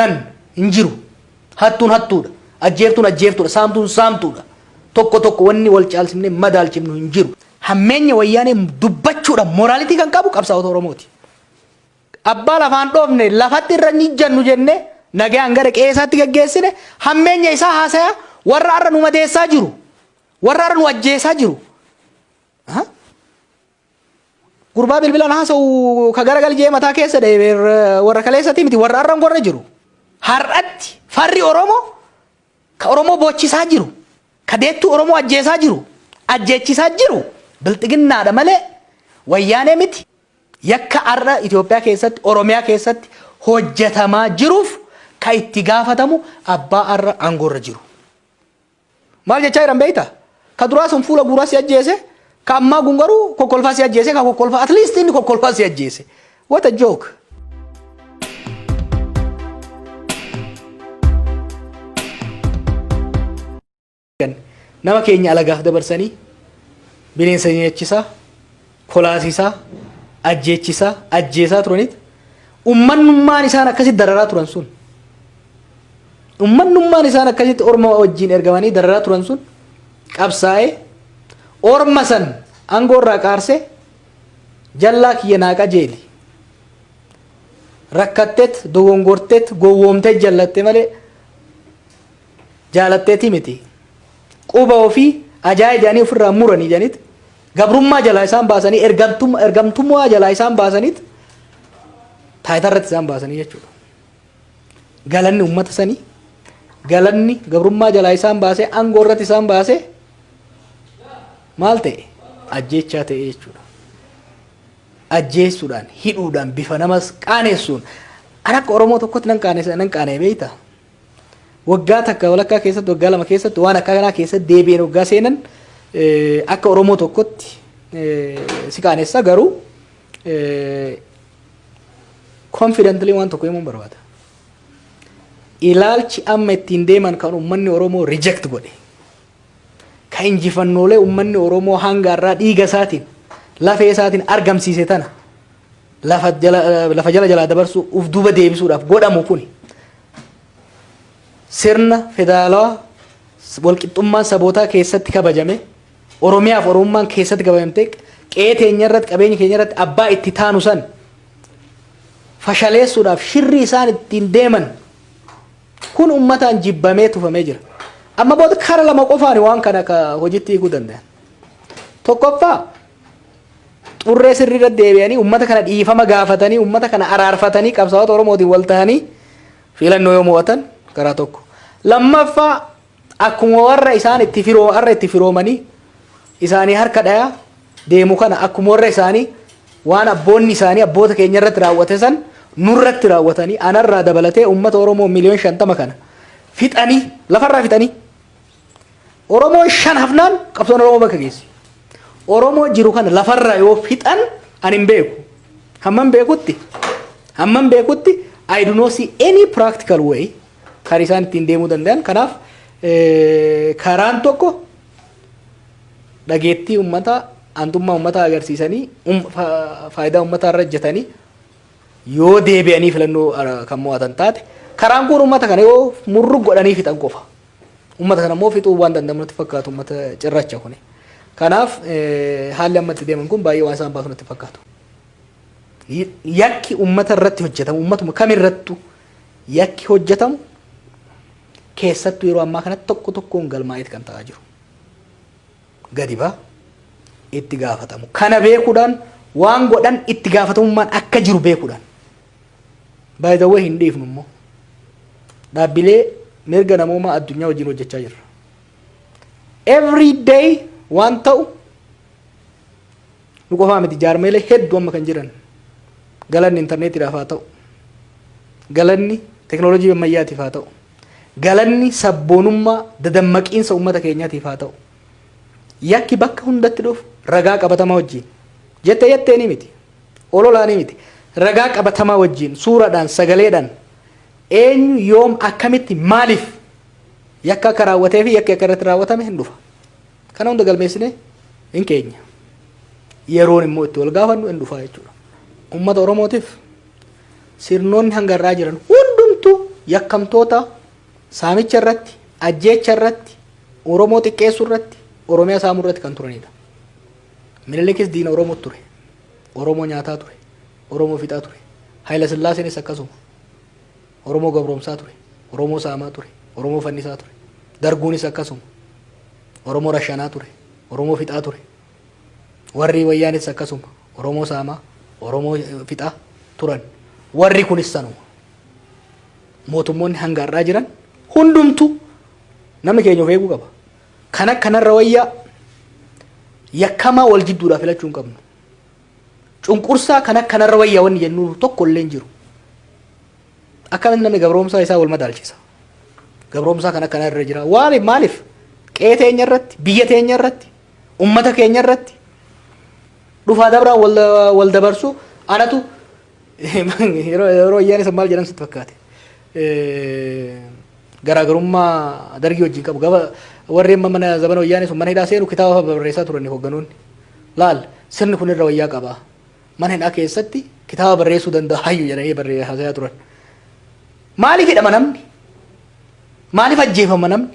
nan hin jiru hattuun hattuudha ajjeeftuun ajjeeftuudha saamtuun saamtuudha tokko tokko wanni wal caalsimne madaalchifnu hin jiru hammeenya wayyaanee dubbachuudha moraalitii kan qabu qabsaa'ota oromooti abbaa lafaan dhoofne lafatti irra hin ijjannu jenne nagaan gara qe'eesaatti gaggeessine hammeenya isaa haasaya warra har'a nu madeessaa jiru warra har'a nu ajjeesaa jiru Gurbaa bilbilaan haasa'u ka garagal jee mataa keessa dha'e ber- warra kaleessati miti warra har'an gorra jiru. Har'atti farri Oromoo ka Oromoo boochisaa jiru ka deettuu Oromoo ajjeesaa jiru ajjeechisaa jiru bilxiginnaadha malee wayyaanee miti. Yakka har'a Itoophiyaa keessatti Oromiyaa keessatti hojjetamaa jiruuf ka itti gaafatamu abbaa har'a aangoorra jiru. Maal jechaa jiran beekta? Ka duraa sun fuula guuraa si ajjeese, ka ammaa kun garuu kokkolfaa si ajjeese, ka kokkolfaa at least inni kokkolfaa si ajjeese. What a joke! Nama keenya alagaaf dabarsanii bineensa nyaachisaa. kolaasisaa, ajjeechisaa, ajjeesaa turaniit ummannummaan isaan akkasitti dararaa turan sun ummannummaan isaan akkasitti orma wajjiin ergamanii dararaa turan sun qabsaa'ee orma san aangoo irraa qaarse jallaa kiyya naa qajeeli rakkatteet dogongorteet gowwoomtee jallatte malee jaalatteeti miti quba ofii ajaa ijaanii ofirraa muranii ijanit gabrummaa jalaa isaan baasanii ergamtum- ergamtummaa jalaa isaan baasanit taayitaa irratti isaan baasanii jechuudha. Galanni uummata sanii galanni gabrummaa jalaa isaan baasee aangoo irratti isaan baasee maal ta'e ajjeechaa ta'e jechuudha. Ajjeessuudhaan hidhuudhaan bifa namas qaanessuun an akka Oromoo tokkotti nan qaanessa nan qaana'e beektaa? Waggaa takka walakkaa keessatti waggaa lama keessatti waan akka kanaa keessatti deebi'een waggaa seenan akka Oromoo tokkotti si qaanessa garuu confidently waan tokko himuun barbaada. Ilaalchi amma ittiin deeman kan uummanni Oromoo reject godhe. ka injifannoolee ummanni Oromoo hanga har'aa dhiiga isaatiin, lafee isaatiin argamsiise tana lafa jala, lafa jala jalaa dabarsuu, uf duuba deebisuudhaaf godhamu kuni sirna federaalawaa walqixxummaan sabootaa keessatti kabajame, Oromiyaaf Oromummaan keessatti kabajamtee qe'ee teenya irratti, qabeenya keenya irratti abbaa itti taanu san fashaleessuudhaaf shirri isaan ittiin deeman Kun ummataan jibbamee tufamee jira. Amma booda kara lama qofaan waan kana ka hojitti hiikuu danda'an. Tokkoffaa xurree sirriirra deebi'anii ummata kana dhiifama gaafatanii ummata kana araarfatanii qabsaa'ota Oromootiin wal tahanii filannoo yoo mo'atan karaa tokko. Lammaffaa Akkuma warra isaan itti firoo arra itti firoomanii isaanii harka dhaya deemu kana akkuma warra isaanii waan abboonni isaanii abboota keenya irratti raawwate san nurratti raawwatanii anarraa dabalatee uummata Oromoo miliyoon shantama kana fixanii lafarraa fixanii Oromoon shan hafnaan qabsoon Oromoo bakka geessi. Oromoo jiru kana lafarraa yoo fixan ani hin beeku. Hamman beekutti hamman beekutti I do not see any practical way kan isaan ittiin deemuu danda'an kanaaf karaan tokko dhageettii ummataa aantummaa ummataa agarsiisanii faayidaa ummataa irra hojjetanii yoo deebi'anii filannoo kan mo'atan taate karaan kun ummata kana yoo murru godhanii fixan qofa ummata kana immoo fixuu waan danda'amu natti fakkaatu ummata cirracha kuni kanaaf haalli amma itti deeman kun baay'ee waan isaan baasu natti fakkaatu yakki ummata irratti hojjetamu ummatuma kamirrattu Yakki hojjetamu keessattuu yeroo ammaa kanatti tokko tokkoon galmaa'eet kan ta'aa jiru. Gadi ba'a. Itti gaafatamu. Kana beekuudhaan waan godhan itti gaafatamummaan akka jiru beekuudhaan. By the way hin dhiifnu immoo. Dhaabbilee mirga namoomaa addunyaa wajjin hojjechaa jirra. Every day waan ta'u Nu qofaa miti jaarmayilee heddu amma kan jiran galanni interneetiidhaaf haa ta'u, galanni teknolojii ammayyaatiif haa ta'u, galanni sabboonummaa dadammaqiinsa ummata keenyatiif haa ta'u, yakki bakka hundatti dhufu ragaa qabatamaa wajjiin, jette jetteeni miti, ololaani miti, ragaa qabatamaa wajjiin, suuradhaan, sagaleedhaan, eenyu, yoom, akkamitti, maaliif yakka akka raawwatee fi yakki akka irratti raawwatame hin dhufa. Kana hunda galmeessinee hin keenya. Yeroon immoo itti wal gaafannu hin dhufaa jechuudha. Uummata Oromootiif sirnoonni hanga har'aa jiran hundumtuu yakkamtoota saamicha irratti, ajjeecha irratti, Oromoo xiqqeessuu irratti, Oromiyaa saamuu irratti kan turanidha. Minilikis diina Oromoo ture. Oromoo nyaataa ture. Oromoo fixaa ture. Hayila Sillaaseenis akkasuma. Oromoo gabroomsaa ture. Oromoo saamaa ture. Oromoo fannisaa ture. Darguunis akkasuma. Oromoo rashanaa ture. Oromoo fixaa ture. Warri wayyaanis akkasuma. Oromoo saamaa, Oromoo fixaa turan. Warri kunis sanuma. Mootummoonni hanga har'aa jiran hundumtu namni keenya of eeguu qaba. Kan akkanarra wayyaa yakkamaa wal jidduudhaa filachuu hin qabnu. Cunqursaa kan akka narra wayya wanni jennu tokko illee hin jiru. Akkamitti namni gabroomsaa isaa wal madaalchisa? Gabroomsaa kan akka narra jira. Waaliif maaliif? Qe'ee teenya irratti, biyya teenya irratti, ummata keenya irratti dhufaa dabraan wal, wal dabarsuu anatu yeroo yeroo ayyaana san maal jedhan sitti fakkaate? garaagarummaa dargii wajjin qabu. Gaba warreen mana zabana wayyaanee sun mana hidhaa seenu kitaaba fa'a barreessaa turani hoogganoonni. Laal sirni kun irra wayyaa qaba. Mana hidhaa keessatti kitaaba barreessuu danda'a hayyu jedhanii barree haasayaa turan. Maaliif hidhama namni? Maaliif ajjeefama namni?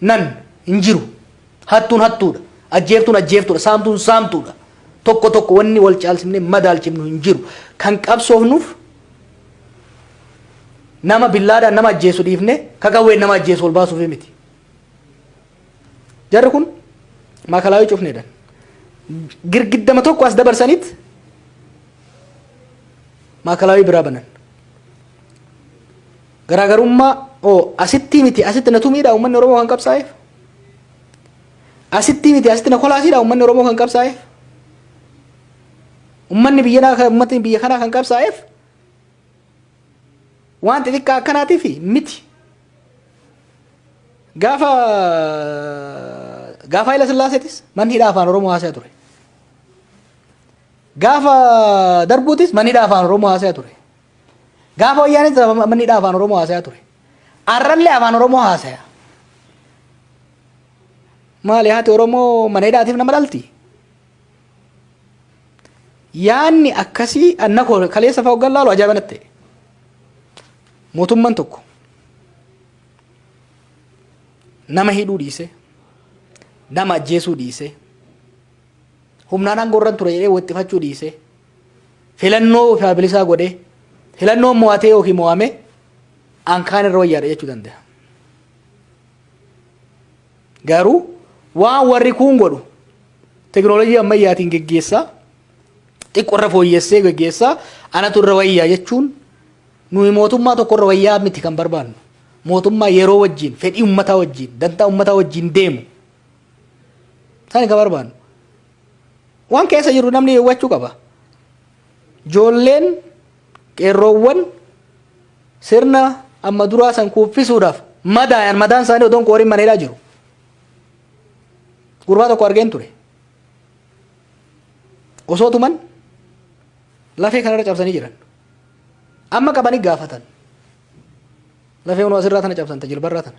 nan hin jiru. Hattuun hattuudha. Ajjeeftuun ajjeeftuudha. Saamtuun saamtuudha. Tokko tokko wanni wal caalsimnee madaalchifnu hin jiru. Kan qabsoofnuuf nama billaadhaan nama ajjeesu dhiifne kakawween nama ajjeesu ol baasuufi miti. Jarri kun maakalaawii cufneedhaan girgiddama tokko as dabarsaniit maakalaawii biraa banan. Garaagarummaa oo asittii miti asitti na tumiidha uummanni Oromoo kan qabsaa'eef? Asittii miti asitti na kolaasiidha uummanni Oromoo kan qabsaa'eef? Uummanni biyya kanaa uummatni biyya kanaa kan qabsaa'eef waan xixiqqaa akkanaatiif miti. Gaafa gaafa Hayila Sillaaseetis manni hidhaa afaan Oromoo haasa'aa ture. Gaafa darbuutis manni hidhaa afaan Oromoo haasa'aa ture. Gaafa wayyaanee sababa manni dhaa afaan Oromoo haasayaa ture. Arrallee afaan Oromoo haasaya. Maali haati Oromoo mana hidhaatiif nama dhalti? Yaanni akkasii anna koo kaleessa fa'aa hoggan laalu ajaa'iba natti ta'e. Mootummaan tokko nama hidhuu dhiisee nama ajjeesuu dhiisee humnaan aangoo irra ture jedhee waxxifachuu dhiisee filannoo ofaa bilisaa godhee filannoo mo'atee yookiin mo'ame an kaan irra wayyaadha jechuu danda'a. Garuu waan warri kuun godhu teknoolojii ammayyaatiin geggeessaa xiqqoo irra fooyyessee geggeessaa anatu irra wayyaa jechuun nuyi mootummaa tokko irra wayyaa miti kan barbaannu. Mootummaa yeroo wajjin fedhii ummataa wajjin dantaa ummataa wajjin deemu. Isaan kan barbaannu. Waan keessa jirru namni hubachuu qaba. Joolleen qeerroowwan sirna amma duraa san kuuffisuudhaaf madaayan madaan isaanii odoon qooriin maneedhaa jiru. Gurbaa tokko argeen ture. Osoo tuman lafee kanarra cabsanii jiran. Amma qabanii gaafatan. Lafee unoo asirraa tana cabsanta jilbarraa tana.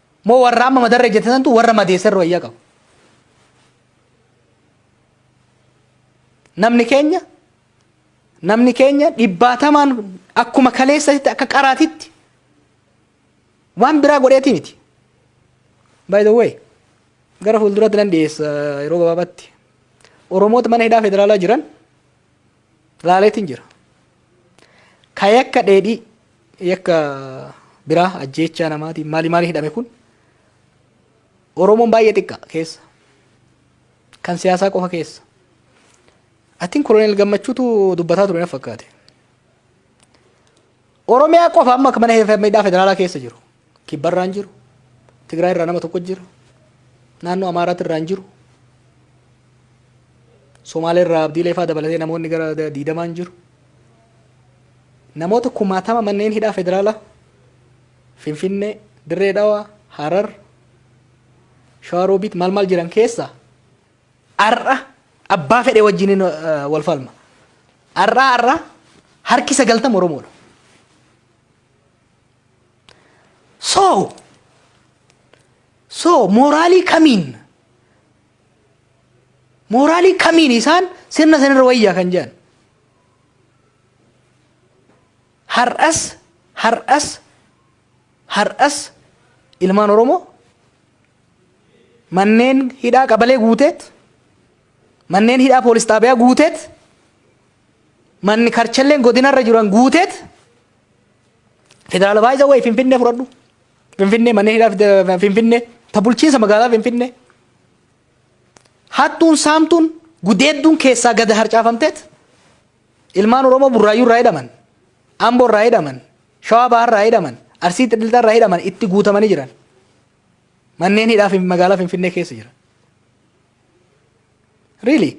Moo warra amma madarra ejjete santu warra madeesserra wayyaa qabu. Namni keenya namni keenya dhibbaatamaan akkuma kaleessatti akka qaraatitti waan biraa godheeti miti. By the way, gara fuulduratti nan dhiyeessa yeroo gabaabaatti. Oromoota mana hidhaa federaalaa jiran laaleetiin jira. Ka yakka dheedhii yakka biraa ajjeechaa namaatiin maali maali hidhame kun Oromoon baay'ee xiqqa keessa. Kan siyaasaa qofa keessa. Atiin koloneel gammachuutu dubbataa ture na fakkaate. Oromiyaa qofa amma mana hidhaa federaalaa keessa jiru. Kibba irraa hin jiru. Tigraay irraa nama tokko jira. Naannoo Amaaraati irraa hin jiru. Somaalee irraa Abdiilee fa'aa dabalatee namoonni gara diidamaa hin jiru. Namoota kumaatama manneen hidhaa federaalaa Finfinnee, Dirree Dhawaa, Harar, Shawaa Roobiit maal maal jiran keessaa har'a abbaa fedhe wajjin wal falma. Har'aa har'aa harki sagaltama Oromoodha. so so mooraalii kamiin mooraalii kamiin isaan sirna sanirra wayyaa kan jedhan har'as har'as har'as ilmaan oromoo manneen hidhaa qabalee guuteet manneen hidhaa poolis xaabiyaa guuteet manni karchalleen godinarra jiran guuteet Federaala baay'isa wayi Finfinnee fudhadhu. Finfinnee manneen hidhaa Finfinnee ta bulchiinsa magaalaa Finfinnee. Hattuun saamtuun gudeedduun keessaa gada harcaafamteet ilmaan Oromoo burraayyuu irraa hidhaman, Amboo irraa hidhaman, Shawaa Bahaa irraa hidhaman, Arsii Xilxilxaa irraa hidhaman itti guutamanii jiran. Manneen hidhaa magaalaa Finfinnee keessa jiran. Really?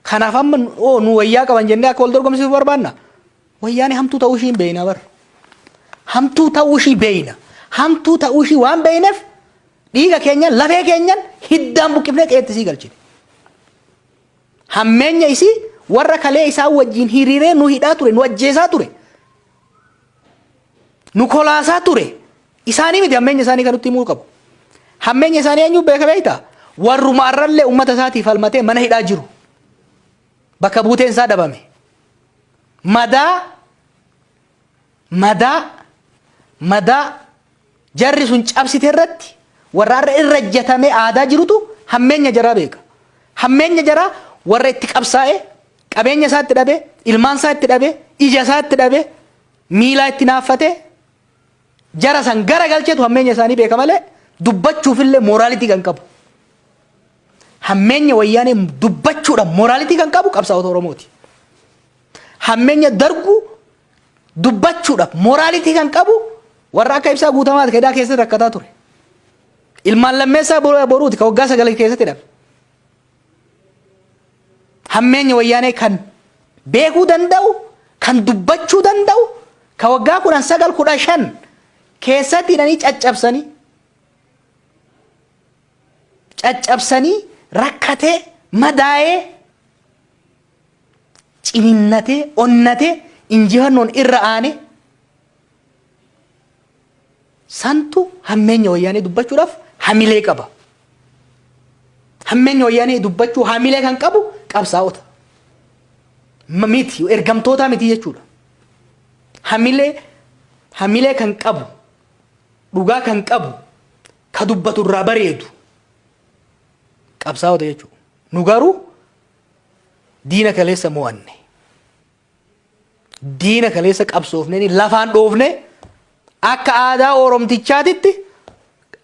Kanaaf amma oo nu wayyaa qaban jennee akka wal dorgomsiisuuf barbaanna? Wayyaanee hamtuu ta'uu ishii hin beekna bar. Hamtuu ta'uu ishii beekna. Hamtuu ta'uu ishii waan beekneef dhiiga keenyan lafee keenyan hiddaan buqqifnee qeetti isii galchine. Hammeenya isii warra kalee isaan wajjin hiriiree nu hidhaa ture nu ajjeesaa ture. nu kolaasaa ture isaanii miti hammeenya isaanii kan nutti himuu qabu. Hammeenya isaanii eenyu beeka beekta? Warruma arrallee uummata isaatiif falmatee mana hidhaa jiru. Bakka buuteen isaa dhabame. Madaa madaa madaa Jarri sun cabsite irratti warra har'a irra ejjatamee aadaa jirutu hammeenya jaraa beeka. Hammeenya jaraa warra itti qabsaa'ee qabeenya isaa itti dhabee, ilmaan isaa itti dhabee, ija isaa itti dhabee, miilaa itti naaffatee jara san gara galchetu hammeenya isaanii beeka malee dubbachuufillee mooraalitii kan qabu. Hammeenya wayyaanee dubbachuudhaan mooraalitii kan qabu qabsaa'ota Oromooti. Hammeenya darguu dubbachuudhaaf mooraalitii kan qabu warra akka ibsaa guutamaati kedaa keessatti rakkataa ture. Ilmaan lammeessaa bo- boruuti kan waggaa sagal keessatti dhabe. Hammeenya wayyaanee kan beekuu danda'u, kan dubbachuu danda'u, kan waggaa kudhan sagal kudha shan keessatti hidhanii caccabsanii caccabsanii rakkatee madaa'ee ciniinnatee, onnatee, injifannoon irra aanee santu hammeenya wayyaanee dubbachuudhaaf hamilee qaba. Hammeenya wayyaanee dubbachuu hamilee kan qabu qabsaa'ota. M- Miti, ergamtootaa miti jechuudha. Hamilee, hamilee kan qabu, dhugaa kan qabu, ka dubbatu irraa bareedu qabsaa'ota jechuudha. Nu garuu Diina kaleessa mo'anne. Diina kaleessa qabsoofnee lafaan dhoofne akka aadaa Oromtichaatitti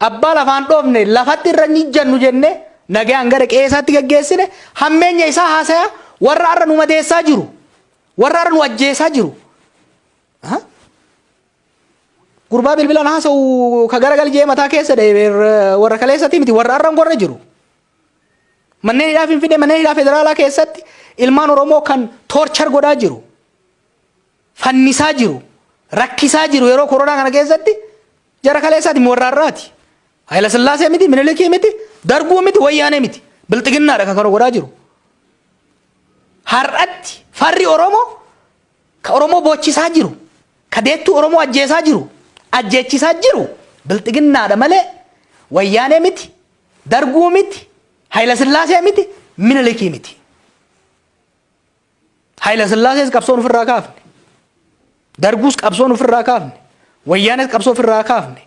abbaa lafaan dhoofne lafatti irra ni jannu jennee nagaan gara qe'eesaatti gaggeessine hammeenya isaa haasaya warra har'a nu madeessaa jiru. Warra har'a nu ajjeesaa jiru. Aha. Gurbaa bilbilaan haasa'u ka garagal jee mataa keessa dha'e warra kaleessati miti warra har'a hin gorre jiru. Manneen hidhaa Finfinnee manneen hidhaa federaalaa keessatti ilmaan Oromoo kan toorchar godhaa jiru, fannisaa jiru, rakkisaa jiru yeroo koronaa kana keessatti jara kaleessaati warraarraati. Hayila Sillaasee miti, Minilikii miti, Darguu miti, Wayyaanee miti. Bilxiginnaadha kan kana godhaa jiru. Har'atti farri Oromoo ka Oromoo boochisaa jiru, ka deettuu Oromoo ajjeesaa jiru, ajjeechisaa jiru bilxiginnaadha malee Wayyaanee miti, Darguu miti, Hayila Sillaasee miti, Minilikii miti. Hayila Sillaasees qabsoon ofirraa kaafne. Darguus qabsoon ofirraa kaafne. Wayyaanees qabsoo ofirraa kaafne.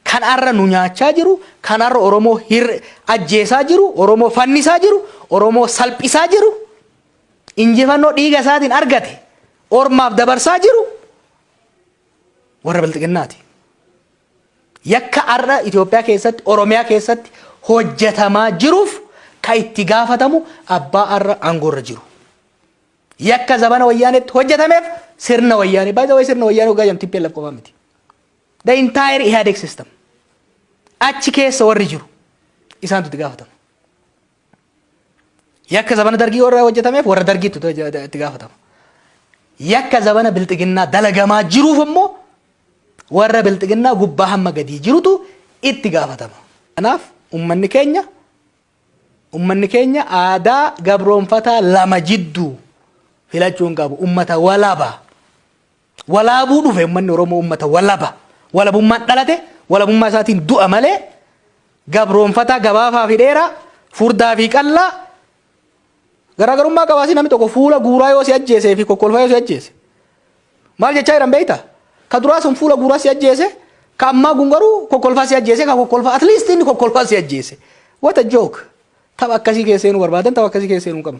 Kan har'a nu nyaachaa jiru, kan har'a Oromoo hir ajjeesaa jiru, Oromoo fannisaa jiru, Oromoo salphisaa jiru, injifannoo dhiiga isaatiin argate ormaaf dabarsaa jiru warra bilxiginnaati. Yakka har'a Itoophiyaa keessatti, Oromiyaa keessatti hojjetamaa jiruuf ka itti gaafatamu abbaa har'a aangoo irra jiru. Yakka zabana wayyaanetti hojjetameef sirna wayyaanee. By the way sirna wayyaanee hoggaa jedhamu TPLF qofaa miti. The entire Ihadeg system. Achi keessa warri jiru isaantu itti gaafatama. Yakka zabana dargii warra hojjetameef warra dargiitu itti gaafatama. Yakka zabana bilxiginnaa dalagamaa jiruuf immoo warra bilxiginnaa gubbaa hamma gadii jirutu itti gaafatama. Kanaaf ummanni keenya ummanni keenya aadaa gabroonfataa lama jidduu filachuu hin qabu. Ummata walaba. Walaabuu dhufe uummanni Oromoo uummata walaba. Walabummaan dhalate walabummaa isaatiin du'a malee gabroonfataa gabaafaa fi dheeraa furdaa fi qallaa garaagarummaa qabaasii namni tokko fuula guuraa yoo si ajjeesee fi kokkolfaa yoo si ajjeese maal jechaa jiran beektaa? Ka duraa sun fuula guuraa si ajjeese ka ammaa kun garuu kokkolfaa si ajjeese ka kokkolfaa at least inni kokkolfaa si ajjeese. What a joke! Tapha akkasii keessee nu barbaadan tapha akkasii keessee nu qabna.